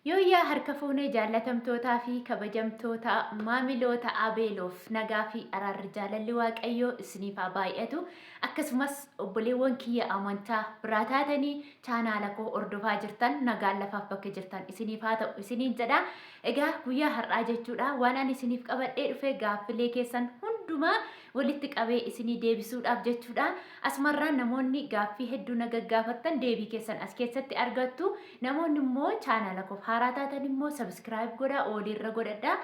Yooyyaa harka fuunee jaallatamtootaa fi kabajamtoota maamiloota Abeeloof nagaa fi araarri jaalalli Waaqayyoo isiniif haa baay'atu. Akkasumas obboleewwan kiyya amantaa biraa taatanii chaanaala koo hordofaa jirtan nagaan lafaaf bakka jirtan isiniif haa ta'u isiniin jedha. Egaa guyyaa har'aa jechuudha waan ani isiniif qabadhee dhufe gaaffilee keessan hundumaa walitti qabee isinii deebisuudhaaf jechuudha. Asumarraa namoonni gaaffii hedduu na gaggaafattan deebii keessan as keessatti argattu. Namoonni immoo chaanaala koof haaraa taatan immoo subscribe godhaa oolirra godhadha.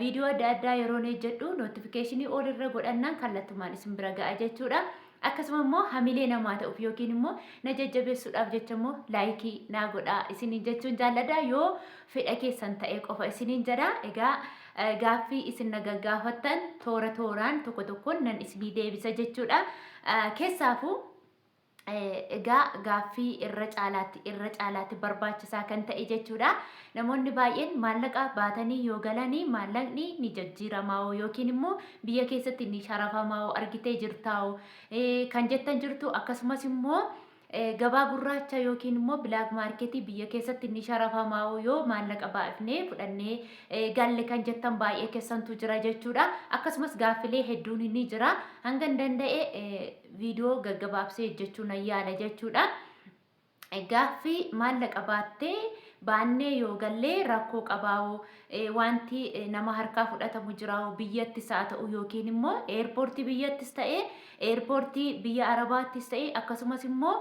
Viidiyoo adda addaa yeroon hojjedhu notification oolirra godhannaan kallattumaan isin bira ga'a jechuudha. Akkasuma immoo hamilee namaa ta'uuf yookiin immoo na jajjabeessuudhaaf jecha immoo laayikii naa godhaa isiniin jechuun jaalladha yoo fedha keessan ta'e qofa isiniin jedha. Egaa Gaaffii isin na gaggaafattan toora tooraan tokko tokkoon nan isinii deebisa jechuudha. Keessaafuu egaa gaaffii irra caalaatti irra caalaatti barbaachisaa kan ta'e jechuudha. Namoonni baay'een maallaqa baatanii yoo galanii maallaqni ni jijjiiramaa'oo yookiin immoo biyya keessatti ni sharafamaa'oo argitee jirtaa'oo kan jettan jirtu akkasumas immoo Gabaa gurraacha yookiin immoo bilaak maarketii biyya keessatti ni sharafamaa'oo yoo maallaqa baa'ifnee fudhannee galle kan jettan baay'ee kessantu jira jechuudha. Akkasumas gaaffilee hedduun ni jira. Hangan danda'e viidiyoo gaggabaabsee hojjechuu nan yaala jechuudha. Gaaffii maallaqa baattee baannee yoo gallee rakkoo qabaa'oo wanti nama harkaa fudhatamu jiraa'oo biyyattis haa ta'u yookiin immoo eerpoortii biyyattis ta'ee Eerpoortii biyya Arabaattis ta'e akkasumas immoo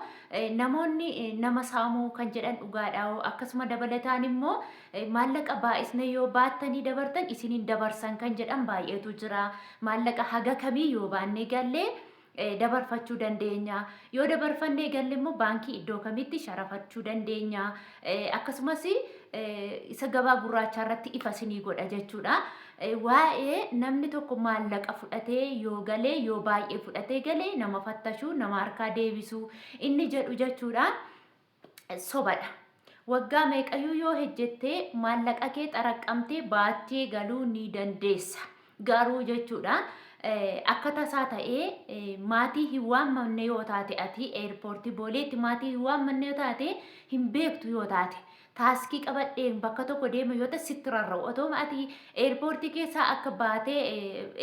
namoonni nama saamu kan jedhan dhugaadhaawoo? Akkasuma dabalataan immoo maallaqa baay'isnee yoo baattanii dabartan isin hin dabarsan kan jedhan baay'eetu jira. Maallaqa haga kamii yoo baannee galle dabarfachuu dandeenya? Yoo dabarfannee galle immoo baankii iddoo kamitti sharafachuu dandeenya? Akkasumas isa gabaa gurraachaa irratti ifa isinii godha jechuudha. Waa'ee namni tokko maallaqa fudhatee yoo galee yoo baay'ee fudhatee galee nama fattashuu nama harkaa deebisuu inni jedhu jechuudha. Sobadha. Waggaa meeqayyuu yoo hejjettee maallaqa kee xaraqqamtee baattee galuu ni dandeessa. Garuu jechuudha akka tasaa ta'ee maatii hin waammanne yoo taate ati eerpoortii booleetti maatii hin waammanne yoo taate hin beektu yoo taate taaskii qabadheen bakka tokko deema yoo ta'e sitti rarra'u otooma ati eerpoortii keessaa akka baatee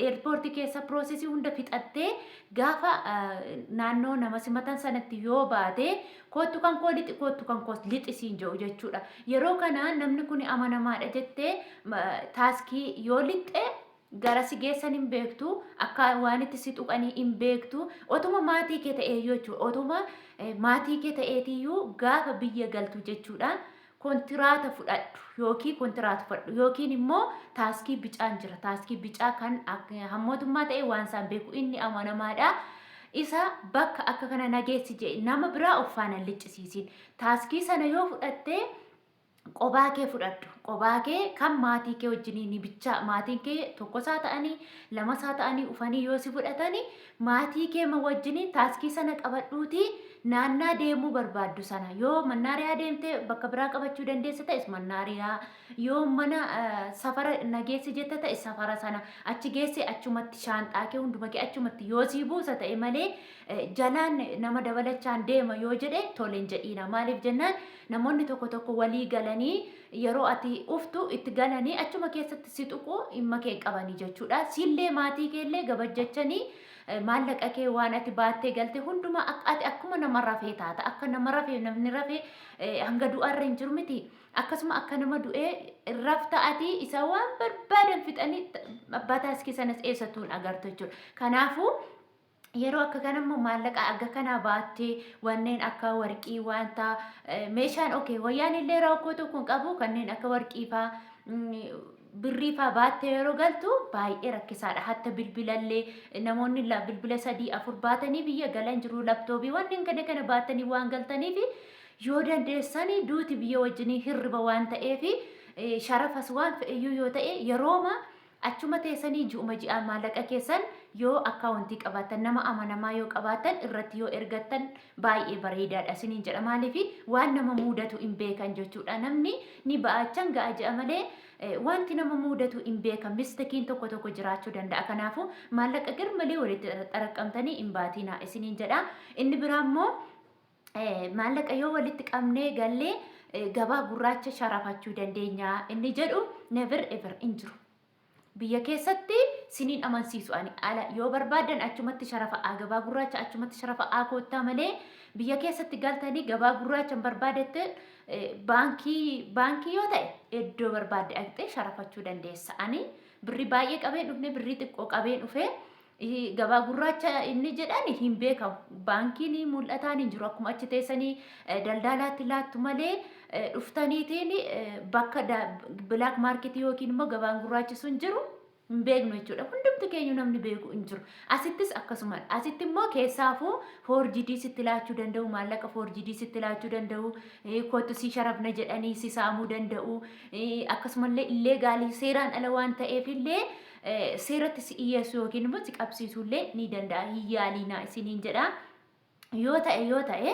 eerpoortii keessa piroosesii hunda fixattee gaafa naannoo nama simatan sanatti yoo baate Koottu kan koo lixi, koottu kan koos lixi siin jedhu jechuudha. Yeroo kana namni kun amanamaadha jettee taaskii yoo lixxe gara si geessan hin beektu, akka waan itti si tuqanii hin beektu. Otuma maatii kee ta'eeyyuu jechuudha. Otuma maatii kee ta'eetiyyuu gaafa biyya galtu jechuudha. Kontiraata fudhadhu ykn kontiraatufadhu ykn immoo taaskii bicaan jira. Taaskii bicaa kan hammootummaa ta'ee waan isaan beeku inni amanamaadha. Isa bakka akka kana nageessi jedhi nama biraa of faana hin liccisiisin. Taaskii sana yoo fudhattee qobaa kee fudhadhu. Qobaa kee kan maatii kee wajjiniin bichaa maatiin kee tokkosaa ta'anii lamasaa ta'anii ufanii yoo si fudhatanii Maatii kee ma wajjiniin taaskii sana qabadhuutii naannaa deemuu barbaaddu sana yoo mannaariyaa deemte bakka biraa qabachuu dandeessa ta'es mannaariyaa yoo mana safara na geessi jetta ta'e safara sana achi geessi achumatti shaanxaa kee hunduma kee achumatti yoo sii buusa ta'e malee jalaan nama dabalachaan deema yoo jedhe toleen jedhiina maaliif jennaan Namoonni tokko tokko walii galanii yeroo ati uftu itti galanii achuma keessatti si tuqu dhimma kee hin qabani jechuudha. Siillee maatii keellee gabajjachanii maallaqa kee waan ati baattee galte hundumaa akka ati akkuma nama rafee taata. Akka nama rafee namni rafee eh, hanga du'aa irra hin jiru miti. Akkasuma akka nama du'ee hin rafta ati isa waan barbaadan fixanii abbaa taaskii sanas eessattuu hin agartu jechuudha. Kanaafuu Yeroo akka kana immoo maallaqa akka kanaa baattee wanneen akka warqii wanta meeshaan okay wayyaan illee rakkoo tokko hin qabu kanneen akka warqii faa birrii faa baattee yeroo galtu baay'ee rakkisaadha. Hatta bilbilallee namoonni la- bilbila sadii afur baatanii biyya galan jiru laptoobii wanneen kana kana baatanii waan galtaniif yoo dandeessanii duuti biyya wajjinii hirriba waan ta'eef eh, sharafas waan fe'eyyuu yoo ta'e yerooma Achuma teessanii ji'uma ji'aan maallaqa keessan yoo akkaawontii qabaattan, nama amanamaa yoo qabaattan irratti yoo ergattan baay'ee bareedaadha isiniin jedha. Maaliif waan nama muudatu hin beekan jechuudha. Namni ni ba'a achan ga'a je'a malee wanti nama muudatu hin beekan. Mistakiin tokko tokko jiraachuu danda'a. Kanaafuu maallaqa garmalee walitti xaraqqamtanii hin baatiinaa isiniin jedha. Inni biraa immoo maallaqa yoo walitti qabnee gallee gabaa gurraacha sharafachuu dandeenya inni jedhu never ever hin jiru. Biyya keessatti siniin amansiisu ani ala yoo barbaadan achumatti sharafa'aa gabaa gurraacha achumatti sharafa'aa koottaa malee biyya keessatti galtanii gabaa gurraacha hin barbaadette baankii baankii yoo ta'e iddoo barbaadde dhaqxee sharafachuu dandeessa. Ani birrii baay'ee qabeen dhufne birrii xiqqoo qabeen dhufee Gabaa gurraacha inni jedhan hin beekamu. Baankiin mul'ataan hin jiru. Akkuma achi teessanii daldaalaatti laattu malee dhuftaniitiin bakka bilaak maarketii yookiin immoo gabaan gurraachi sun jiru hin beeknu jechuudha. Hundumti keenyu namni beeku hin jiru. Asittis akkasumadha. Asitti immoo keessaafuu foorjidii sitti laachuu danda'u, maallaqa foorjidii sitti laachuu danda'u, kottu si sharafna jedhanii si saamuu danda'u. Akkasumallee illee gaalii seeraan ala waan ta'eef illee seeratti si dhiyeessu yookiin immoo si qabsiisuu illee ni danda'a hin yaaliinaa isiniin jedha. yoo ta'e yoo ta'e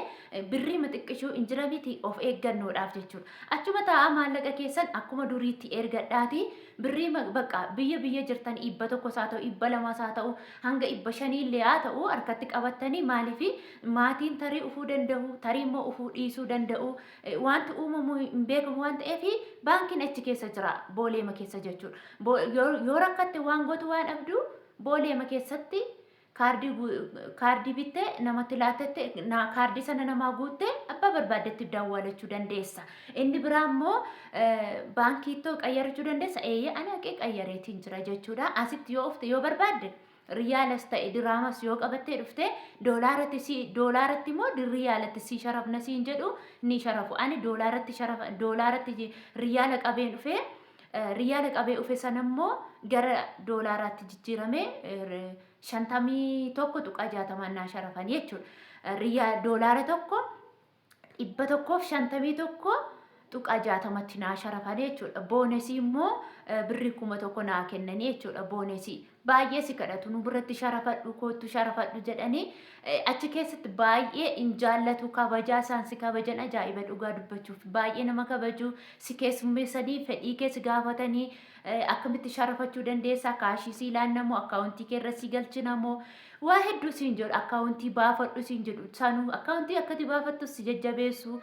birrii maxiqqishuu hin jira miti of eeggannoodhaaf jechuudha. Achuma taa'aa maallaqa keessan akkuma duriitti ergadhaati birrii bakka biyya biyya jirtan dhibba tokkos haa ta'u dhibba lamas haa ta'u hanga dhibba shanii illee haa ta'u harkatti qabattanii maaliif maatiin tarii ufuu danda'u tarii immoo ufuu dhiisuu danda'u Waanti uumamu hin beekamu waan ta'eef baankiin achi keessa jira booleema keessa jechuudha. Yoo rakkatte waan gootu waan dhabdu booleema keessatti kaardii bitte namatti laattette kaardii sana namaa guutte abbaa barbaaddetti dawwalachuu dandeessa. Inni biraa immoo baankiittoo qayyarachuu dandeessa eeyyee ani haqee qayyareetiin jira jechuudha. Asitti yoo ofte yoo barbaadde Riyaalas ta'e diraamas yoo qabattee dhufte doolaaratti si doolaaratti immoo di- riyaalatti si sharafna siin jedhu ni sharafu. Ani doolaaratti sharafa doolaaratti ji- riyaala qabeen dhufe eh, riyaala qabee dhufe sana immoo gara doolaaraatti jijjiirame eh, r- shantamii tokko tuqaa jaatamaan naa sharafan jechuudha. Eh, Riyaa doolaara tokko 151.60 tti naa sharafanii jechuudha. Boonesii immoo birrii 1000 naa kennanii jechuudha boonesii. Baay'ee si kadhatu nu biratti sharafadhu koottu sharafadhu jedhanii achi keessatti baay'ee hin jaallatu kabajaa isaan si kabajan ajaa'iba dhugaa dubbachuuf baay'ee nama kabaju si keessummeessanii fedhii kee si gaafatanii akkamitti sharafachuu dandeessaa kaashii sii laannamoo akkaawuntii kee irra sii galchinamoo Waa hedduu siin jedhu akkaawuntii baafadhu siin jedhu sanu akkaawuntii akkati baafattu si jajjabeessu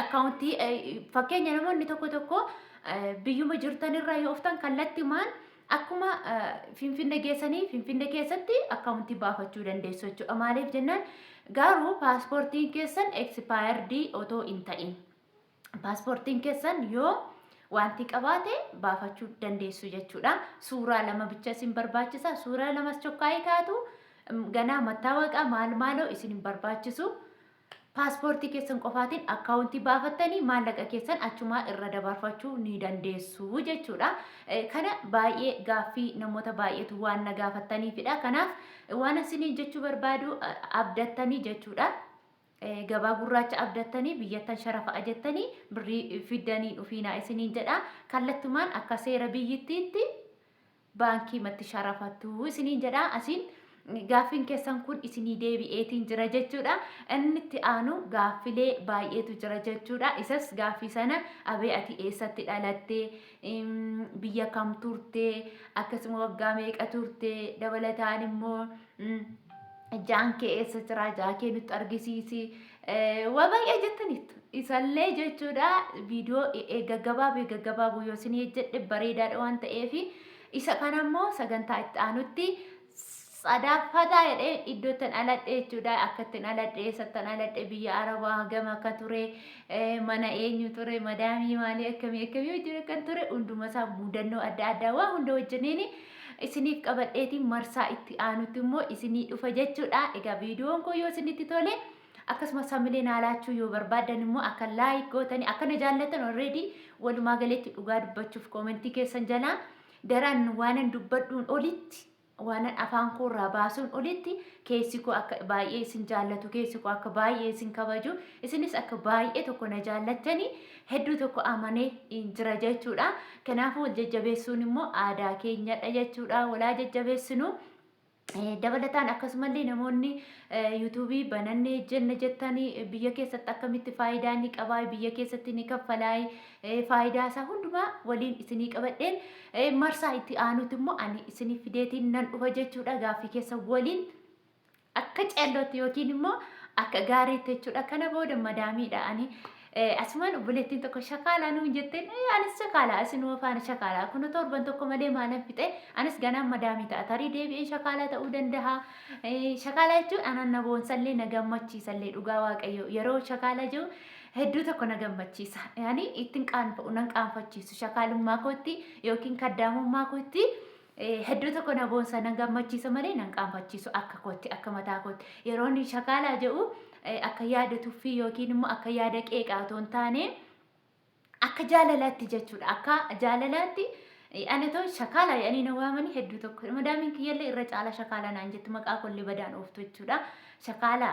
akkaawuntii fakkeenya namoonni tokko tokko biyyuma jirtan irraa yoo oftan kallattimaan akkuma finfinne geessanii finfinne keessatti akkaawuntii baafachuu dandeessu jechuudha maaliif jennaan garuu paaspoortiin keessan eksipaayardii otoo hin ta'in. Paaspoortiin keessan yoo wanti qabaate baafachuu dandeessu jechuudha. Suuraa lama bicha isin barbaachisa. Suuraa lamas chokkaa'ee kaatu ganaa mattaawaqaa maal maaloo isin hin barbaachisu. Paaspoortii keessan qofaatiin akkaawuntii baafattanii maallaqa keessan achumaa irra dabarfachuu ni dandeessu jechuudha. Kana baay'ee gaaffii namoota baay'eetu waan na gaafattaniifidha. Kanaaf waan isin jechuu barbaadu abdattanii jechuudha. Gabaa gurraacha abdattanii biyyattan sharafa'a jettanii birrii fiddanii hin dhufiinaa isiniin jedha. Kallattumaan akka seera biyyittiitti baankiimatti sharafattu isiniin jedha. Asiin gaaffiin keessan kun isinii deebi'eetiin jira jechuudha. Inni itti aanu gaaffilee baay'eetu jira jechuudha. Isas gaaffii sana abee ati eessatti dhalatte, biyya kam turte, akkasuma waggaa meeqa turte, dabalataan immoo Ijaan kee eessa jira? Ijaa kee nutti argisiisi. Waa baay'ee jettaniittu. Isallee jechuudha viidiyoo gaggabaabee gaggabaabuu yoo isin hojjedhe bareedaadha waan ta'eef isa kana immoo sagantaa itti aanutti sadaaffataa jedhee iddoo ittiin aladhe jechuudha. Akka ittiin aladhe eessattan aladhe biyya Arabaa hagam akka ture mana eenyu ture madaamii maalii akkamii akkamii wajjin akkan ture hunduma isaa mudannoo adda addaa waa hunda wajjiniin isiniif qabadheeti marsaa itti aanutti immoo isinii dhufa jechuudha egaa viidiyoon koo yoo isinitti tole akkasuma samilee naa laachuu yoo barbaaddan immoo akka laayik gootanii akka na jaallattan already walumaa galeetti dhugaa dubbachuuf koomentii keessan jalaa daraan waanan dubbadhuun olitti waanan afaan koo irraa baasuun olitti keessi koo akka baay'ee isin jaallatu keessi koo akka baay'ee isin kabaju isinis akka baay'ee tokko na jaallattanii hedduu tokko amanee in jira jechuudha. Kanaafuu wal jajjabeessuun immoo aadaa keenyadha jechuudha. Walaa jajjabeessinu. Dabalataan akkasumallee namoonni yuutuubii banannee jenna jettanii biyya keessatti akkamitti faayidaa ni qabaa biyya keessatti ni kaffalaa faayidaa isaa hundumaa waliin isinii qabadheen marsaa itti aanuti immoo ani isinii fideetiin nan dhufa jechuudha gaaffii keessa waliin Akka ceellootti yookiin immoo akka gaariitti jechuudha. Kana booda madaamiidha ani asumaan obboleettiin tokko shakaalaa nuun jetteen ee anis shakaalaa isinuma faana shakaalaa kun torban tokko malee maalan fixee anis ganaan madaamii ta'a tarii deebi'een shakaalaa ta'uu danda'a. Shakaalaa jechuun anan na boonsallee na gammachiisallee dhugaa waaqayyo yeroo shakaalaa jiru hedduu tokko na gammachiisa. Ani ittiin qaanfa'u nan qaanfachiisu shakaalummaa kootti yookiin kaddaamummaa kootti Eh, hedduu tokko na boonsa nan gammachiisa malee nan qaanfachiisu akka kootti akka mataa kootti yeroo inni shakaalaa jedhu eh, akka yaada tuffii yookiin immoo akka yaada qeeqaa otoo hin taane akka jaalalaatti jechuudha akka jaalalaatti eh, ani otoo shakaala jedhanii na waamanii hedduu tokko madaamiin kiyyallee irra caalaa shakaala naan jettu maqaa kollee badaan ooftu jechuudha shakaala